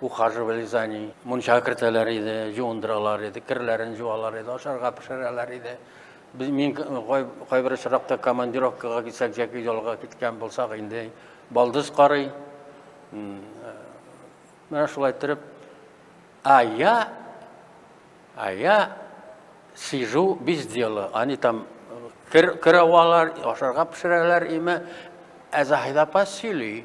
ухаживали за ней. Мунчага кертәләр иде, җуындыралар иде, керләрен җуалар иде, ашарга пешерәләр иде. Без мин кайбер очракта командировкага китсәк яки ялга киткән булсак инде балдыз карый. Менә шулай торып, а я, а я сижу без дела. Они там кер, кер авалар, ашарга пешерәләр име, ә Заһида апа сөйли.